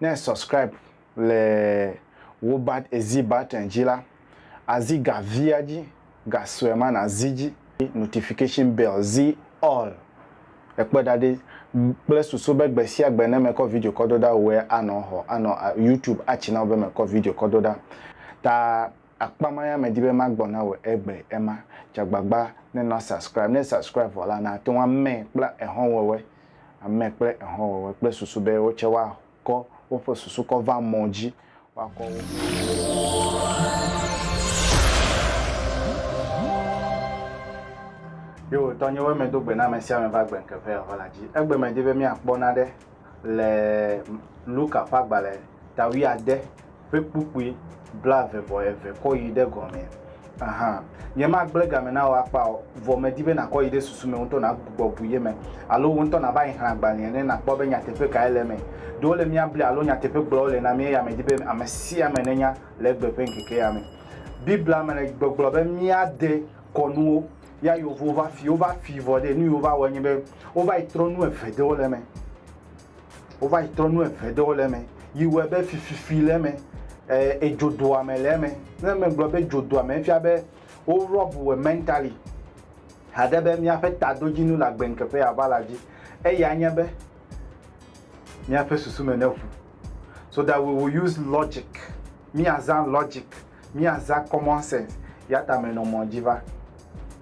Ne è subscribe le wò bat èzi button dzi la, àzi ga via dzi, ga sue ma nàzi dzi. Notification bell, zi all. Èkpɔe ɖa ɖe, kple susu be gbe sia gbe ne mekɔ video kɔ do ɖa wòe anɔ xɔ, anɔ YouTube atsi na wò be mekɔ video kɔ do ɖa ta Akpa ma ya medi be magbɔ na wò egbe ema. Dze agbagba ne nɔ subscribe. Ne subscribe vɔ la, nàte ŋu amɛ kple ehɔnwɔwɔe. Amɛ kple ehɔnwɔwɔe kple susu be wo tsɛ woakɔ woƒe susu kɔ va mɔ dzi. Woakɔ wo. Yo, tɔnyewoe medo gbe na amesiame va gbe ŋke ʋɛ ehɔ la dzi. Egbe medi be míakpɔ naɖe. le Luka ƒe agbalẽ ta wuiade ƒe kpukpui blaeve vɔ eve kɔ yi ɖe gɔme hã. Nyemagblẽ game na wò akpa o, vɔ medi be nàkɔ yi ɖe susu me ŋutɔ nàgbugbɔ bu ye me, alo wò ŋutɔ nàva yi xlẽ agbalẽa ne nàkpɔ be nyateƒe kae le eme. Ɖe wole mía blia alo nyateƒe gblɔ wole na mí eya medi be ame sia ame nenya le egbe ƒe ŋkekea me. Biblia me le gbɔgblɔ be míade kɔnuwo. Ya yewo va fi, wova fi vɔ ɖe, nu yi wova wɔe nye be wova yi trɔ nu eve ɖewo le eme. Wova yi trɔ nu eve ɖewo le eme yi wɔe be fififi le eme, e, edzodoame le eme. Ne megblɔ be dzodoame efia be wo rɔb wɔ mɛntali haɖe be míaƒe tadodzinu le agbeŋkeƒe ya va la dzi. Eya nye be míaƒe susu me neʋu. So that we will use logic. Míazã logic Míaza common sense ya ta menɔ mɔ dzi va.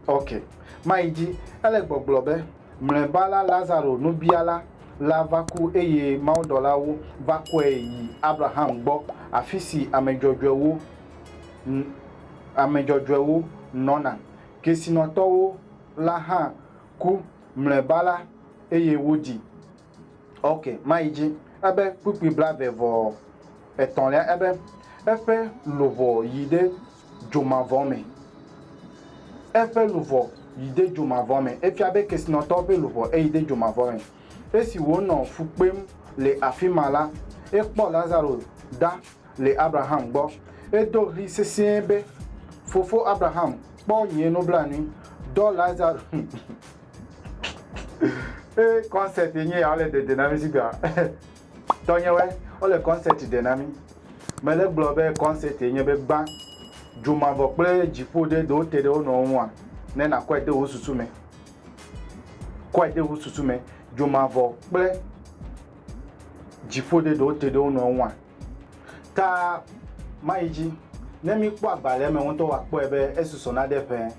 Ok. Mayi dzi. Ele gbɔgblɔ be, Mlɔeba la Lazaro nubiala la va ku eye mawudɔlawo va kɔe yi Abraham gbɔ afi si ame dzɔdzɔewo, ame dzɔdzɔewo nɔna. Kesinɔtɔwo la hã ku mlɔeba la eye wodi. Ok, mayi dzi. Ebe kpukpui blave vɔ etɔ̃lia, ebe eƒe luʋɔ yi ɖe dzomavɔ me. Eƒe luʋɔ yi ɖe dzomavɔ me. Efia be kesinɔtɔwo ƒe luʋɔ eyi ɖe dzomavɔ me. Esi wònɔ fu kpem le afi ma la, ekpɔ Lazaro ɖa le Abraham gbɔ. Edo ɣli sesĩe be, Fofo Abraham, kpɔ nye nublanui, dɔ Lazaro. ee concert nye ya wole dede na mi si gbea tɔnyewɔe wole concert de na mi mele gblɔ be concert nye be gbã dzomavɔ kple dziƒo ɖe ɖewo te ɖe wo nɔwo ŋua ne nakɔe de wo susu me kɔe de wo susu me dzomavɔ kple dziƒo ɖe ɖewo te ɖe wo nɔwo ŋua Ka mayi dzi, ne míkpɔ agbalẽa me ŋutɔ akpɔe be esusɔ na ɖe ƒẽ.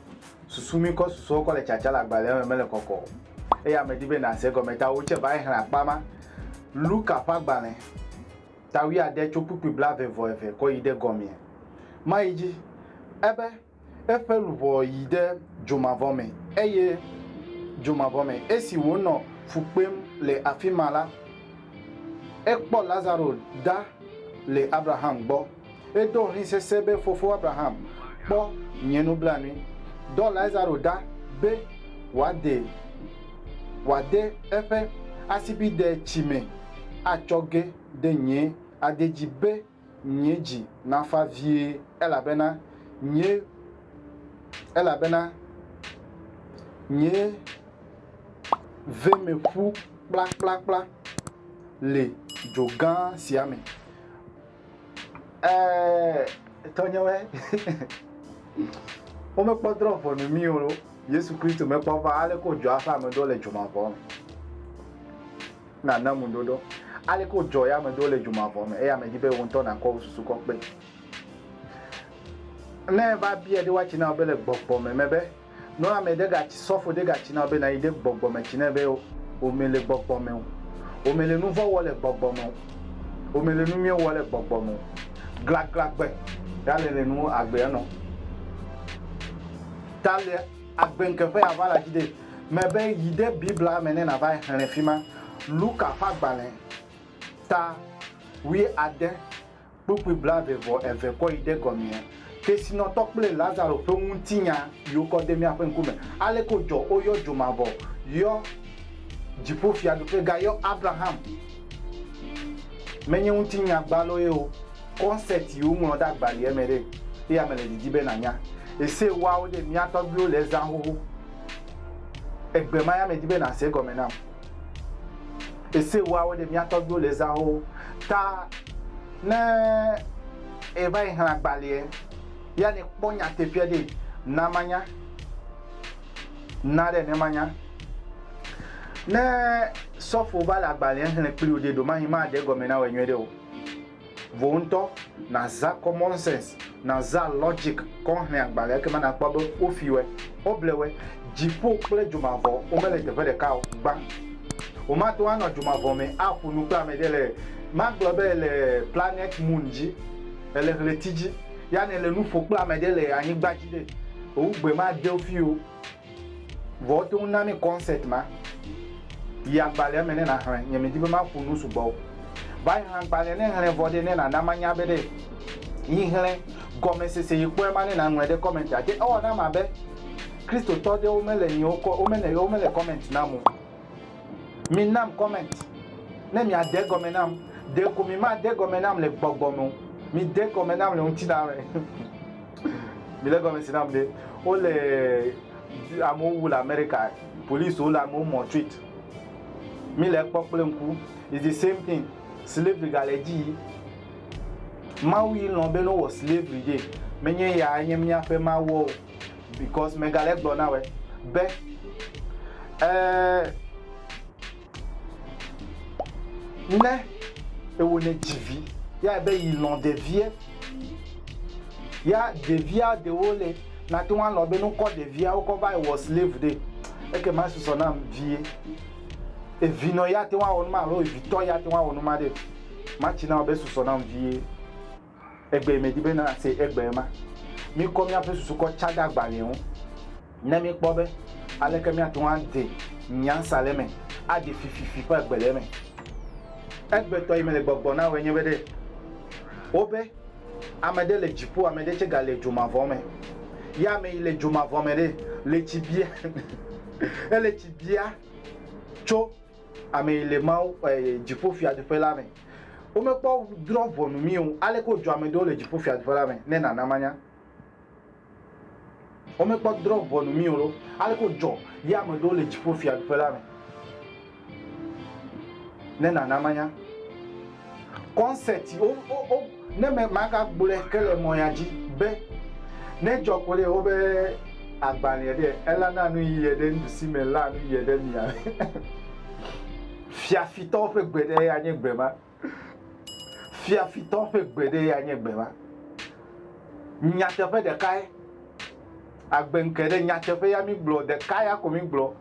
Susu mí kɔ susɔwo kɔ le tsatsa le agbalẽa me mele kɔkɔ o, eya medi be nàse egɔme ta wò tsɛ va yi xlẽ akpa ma. Luka ƒe agbalẽ, ta wuiade tso kpukpui blaeve vɔ eve kɔ yi ɖe gɔmee. Mayi dzi, ebe. Eƒe luʋɔ yi ɖe dzomavɔ me, eye dzomavɔ me, esi wònɔ fu kpem le afi ma la, ekpɔ Lazaro ɖa le Abraham gbɔ. Edo ɣli sesẽ be, Fofo Abraham, kpɔ nye nublanui. Dɔ Lazaro ɖa be wòade wòade eƒe asibide tsi me atsɔ ge ɖe nye ade dzi be, nye dzi nafa vie, elabena nye, elabena nye ve me ƒu kplakplakpla le dzo gã sia me. Ɛ, tɔnyewɔɛ, womekpɔ drɔ̃ ʋɔnu mí o, Yesu Kristo mekpɔ va aleke wòdzɔa eƒe ame ɖo le dzomavɔa me. Nàna ŋuɖoɖo. Aleke wodzɔ ya ame ɖewo le dzo mavɔ me eya mèdi be wò ŋutɔ nàkɔ wò susu kɔ kpee o? Ne eva biae ɖe woatsi na wò be le gbɔgbɔ me me be, Nunɔlame ɖe gatsi, sɔfo ɖe gatsi na wò be nàyi ɖe gbɔgbɔ me tsi nɛ be, Wò mele gbɔgbɔ me o. Wò mele nu vɔ̃ wɔ le gbɔgbɔ me o. Wò mele nu nyui wɔ le gbɔgbɔ me o. Glaglagbɛ ya le le nu agbe enɔ. Ta le agbe ŋke ƒe ya va la dzi ɖee. me be yi ɖe Biblia me ne nàva xlẽ fi ma, Luka ƒe agbalẽ, ta wuiade, kpukpui blaeve vɔ eve kɔ yi ɖe gɔmea. Kesinɔtɔ kple Lazaro ƒe ŋutinya yi wokɔ de míaƒe ŋkume. Aleke wodzɔ woyɔ dzo mavɔ, yɔ dziƒo fiaɖuƒe, gayɔ Abraham, menye ŋutinya gbalo ye o, concept yi woŋlɔ ɖe agbalia me ɖe, eya mele didi be nànya. Ese woawo ɖe mía tɔgbuiwo le ezã xoxo. Egbe ma ya medi be nàse egɔme nam. Ese ewoawo ɖe mía tɔgbuiwo le zãwo ta. Ne èva yi xlẽ agbalẽa, ya nèkpɔ nyateƒea ɖi. Na manya. Na ɖe ne manya. Ne sɔfo va le agbalẽa xlẽ kpli wò ɖe, ɖewomahi maɖe egɔme na wòe nyuiɖe o. Vò ŋutɔ nàzã common sense, nàzã logic kɔ hlẽ agbalẽa ekema nàkpɔ be wofiwɛ, woblewɛ. Dziƒo kple dzomavɔ womele teƒe ɖeka o. Gbã. Womate ŋu anɔ dzomavɔ me aƒo nu kple ame ɖe le, magblɔ be èle planète Moon dzi, èle ɣleti dzi, ya ne èle nu ƒo kple ame ɖe le anyigba dzi ɖe, wò ŋugbe made wo fii o. Vɔ wote ŋu na mí kɔnsɛti ma. Yi agbalẽa me ne nàxlẽ. Nyemedi be maƒo nu sugbɔ o. Vɔ ayi hã agbalẽa ne ŋlɛ vɔ ɖe, ne nàna manya be ɖe yi ŋlɛ gɔmesese yi kpɔe ma ne nàŋlɔe ɖe kɔmɛntia te. Ewɔ nam abe Kristotɔ ɖewo mele nyiwo kɔ, womele, womele kɔmɛnti nam o. Minam kɔmɛnti ne miade gɔme nam. Ɖeko mimade gɔme nam le gbɔgbɔ me o. Mide gɔme nam le ŋutilã me. Mele gɔmesi nam ɖe. Wo le amewo wu le America. Police wo le amewo mɔ treat. Mi le ekpɔ kple ŋku. It's the same thing. Slavery ga le dzi yi. Mawu yi lɔn be no wɔ slavery ye. Menye ya nye miaƒe mawu o. Because mega le gblɔ na wɔ be eh Ne ewo ne dzi vi, ya be yi lɔn ɖevie. Ya ɖevia ɖewo le nate ŋu alɔn be nukɔ ɖevia wokɔ va wɔ slave ɖe. Eke ma susɔ nam vie. Evi nɔ ya te ŋu awɔ numa alo evi tɔ ya te ŋu awɔ numa ɖe. Matsi na wo be susɔ nam vie. Egbee medi be nàse egbee ma. Mikɔ miaƒe susu kɔ tsa ɖe agbalẽa ŋu ne mikpɔ be aleke miate ŋu ade nyansa le eme aɖi fififi ƒe agbe le eme. Egbetɔ yi mele gbɔgbɔ na wòe nye be ɖe wobe, Ame ɖe le dziƒo, ame ɖe tsɛ gale dzomavɔ me. Ya ame yi le dzomavɔ me ɖe, le tsi bia, ele tsi bia tso. Amee le Mawu ƒe dziƒofiaɖuƒe la me. Womekpɔ drɔ̃ ʋɔnu mí o. Aleke wodzɔ ame ɖewo le dziƒofiaɖuƒe la me? Ne nàna manya. Womekpɔ drɔ̃ ʋɔnu mí o ɖo. Aleke wodzɔ ye ame ɖewo le dziƒofiaɖuƒe la me? Ne nàna manya. Concert wo wo wo ne me magagblɔe ke le mɔya dzi be ne dzɔ ko ɖe wobe agbalẽ ɖe elana nu yi ɖe nuɖusi me la nu yi ɖe mia fiafitɔ ƒe gbe ɖe ya nye gbe ma fiafitɔ ƒe gbe ɖe ya nye gbe ma nyateƒe ɖekae agbe ŋke ɖe nyateƒe ya mi gblɔ ɖeka ya ko mi gblɔ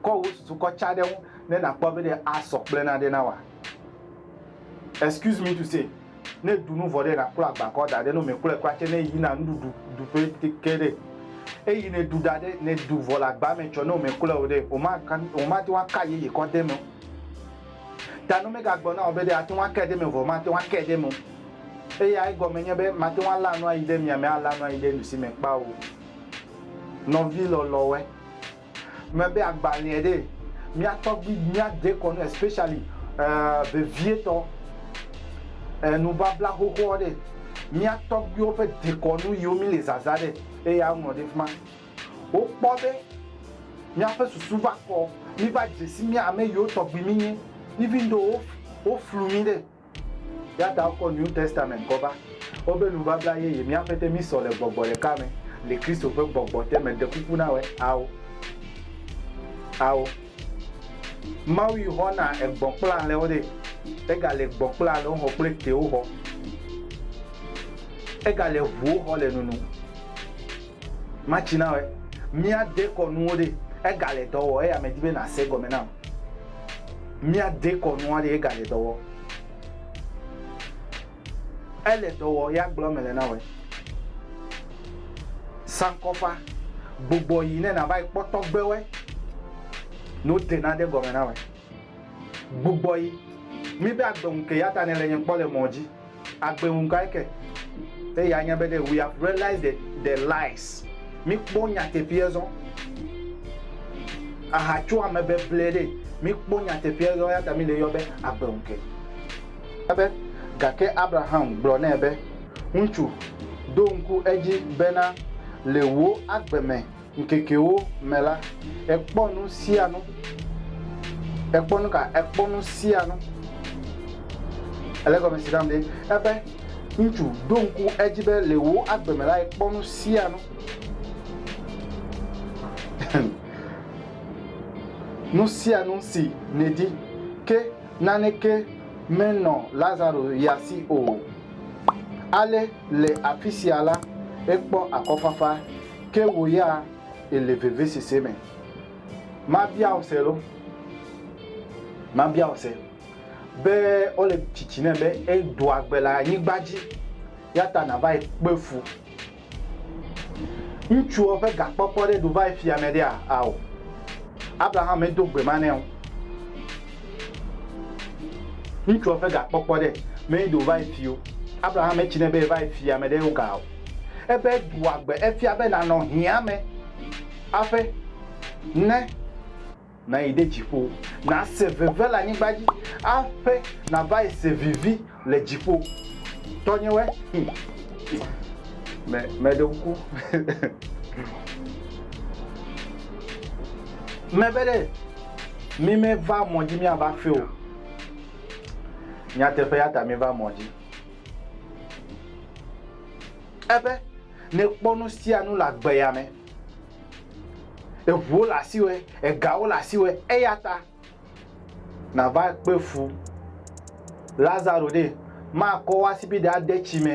kɔ wo susu kɔ tsa ɖe ŋu ne nakpɔ be ɖe asɔ kple na ɖe na wa. excuse me to say ne du nu vɔ ɖe na kpla agba kɔ da ɖe no me kple kpla tse ne yi na nu du du ƒe teke ɖe eyi ne du da ɖe ne du vɔ le agba me tsɔ ne me kple o ɖe o ma kan o ma te wa ka ye ye kɔ de me ta no me ga gbɔ na o be ɖe ate wa ke de me vɔ ma te wa ke de me eye ayi gɔ me nye be ma te wa la nu ayi de mia me ala nu ayi de nu si me kpa o nɔvi lɔlɔwe me be agbalẽe ɖe mía tɔgbi mía dekɔnu especially eh, vevietɔ eh, nubabla xoxoɔ ɖe mía tɔgbiwo ƒe dekɔnu yiwo mi le zaza ɖe eya ŋlɔ ɖe fima wokpɔ be míaƒe susu va kɔ mi va dzesi mía ame yiwo tɔgbi mi nye even though wo flu mi ɖe Yata wokɔ New Testament kɔ va wobe nubabla yeye mía ƒete mí sɔ le gbɔgbɔ ɖeka me le Kristo ƒe gbɔgbɔ te me ɖekuku na wɛ ao. Ao. Mawu yi xɔ na egbɔn kple alɛ wo ɖe ega le gbɔn kple alɛ wo xɔ kple te wo xɔ. Ega le ʋu wo xɔ le nunu. Matsi na wɔe. Mía dekɔ nuwo ɖe, ega le dɔ wɔ eye ame di be na se gɔme nam. Mía dekɔ nua ɖe ega le dɔ wɔ. Ele dɔ wɔ ya gblɔ mele na wɔe. Sankɔfa, gbogbɔ yi ne na va yi kpɔ tɔgbe wɔe. No de na de gɔme na wɔe. Gbogbɔ yi, mi be agbe ŋu ke yata ne le nye kpɔ le mɔ dzi. Agbe ŋu kae ke? Eye anya be ɖe we have realized the the lies. Mikpɔ nyateƒea zɔ. Aha tso ame beble ɖe. Mikpɔ nyateƒea zɔ eya ta mi le yɔ be agbe ŋu ke. Ebe, Gake Abraham gblɔ nɛ be, Ŋutsu, ɖo ŋku edzi bena le wò agbe me ŋkekewo me la, ekpɔ nu sia nu. Ekpɔ nu ka? Ekpɔ nu sia nu. Ele gɔme si kam ɖe? Ebe ŋutsu ɖo ŋku edzi be le wò agbe me la, ekpɔ nu sia nu. nu sia nu si nèdi, ke naneke menɔ Lazaro ya si o. Ale le afi sia la, ekpɔ akɔfafa. Ke wò ya èle vevisese me. Mabia wò se loo? Mabia wò se be wole tsitsi nɛ be edo agbe le anyigba dzi, ya ta nàva yi kpe fu. Ŋutsuwo ƒe gakpɔkpɔ ɖe ɖo va yi fia me ɖea? Ao. Abraham medo gbe ma nɛ o. Ŋutsuwo ƒe gakpɔkpɔ ɖe meɖo va yi fi o. Abraham metsi nɛ be eva yi fia me ɖe wo ga o. Ebe ɖua gbe efia be nànɔ hiãme aƒe ne. Nàyi ɖe dziƒo, nàse veve le anyigba dzi aƒe nàva yi se vivi le dziƒo. Tɔnyewɔe, hum, me, meɖe ŋku. Mebe ɖe, mi meva mɔ dzi miava aƒe o. Nyateƒe ya ta miva mɔ dzi. Ebe nèkpɔ nu sia nu le agbe ya me. Eŋuwo le asiwò, egawo le asiwò, eya ta nàva kpe fu Lazaro ɖe. Makɔ wò asibide ade tsi me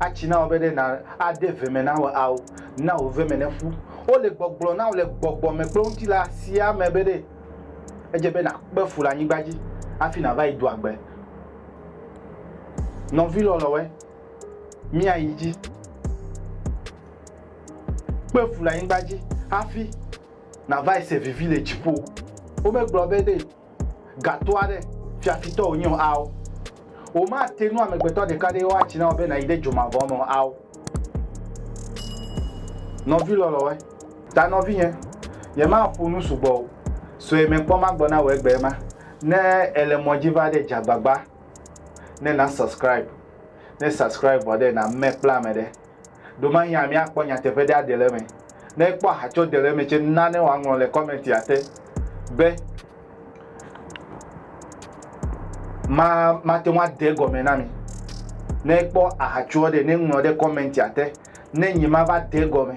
atsi na wò be ɖe nà ade ve me na wò ao, na wò ve me neƒu. Wole gbɔgblɔ na wò le gbɔgbɔ me kple ŋutilã sia me be ɖe edze be nàkpe fu le anyigba dzi hafi nàva yi do agbe. Nɔvi lɔlɔwɛ, míayi dzi. Kpe fu le anyigba dzi hafi nàva se vivi le dziƒo. Womegblɔ be ɖe gato aɖe fiafitɔ wònye o ao. Womate nu amegbetɔ ɖeka ɖe woatsi na wò be nàyi ɖe dzo mavɔ me o ao. Nɔvi lɔlɔwɛ, ta nɔvinye, nyemaƒo nu sugbɔ o sue mekpɔ magbɔ na wò egbea ma. Ne ele mɔ dzi va ɖe dza gbagba ne na subscribe ne subscribe vɔ ɖe na me kple ame ɖe ɖo ma hiã mia kpɔ nyateƒe ɖe aɖe le eme ne ekpɔ aha tsɔ de le eme tse na ne wa ŋlɔ le comment ya te be ma ma te wa de gɔme na mi ne ekpɔ aha tsɔ ɖe ne ŋlɔ ɖe comment ya te ne nyi ma va de gɔme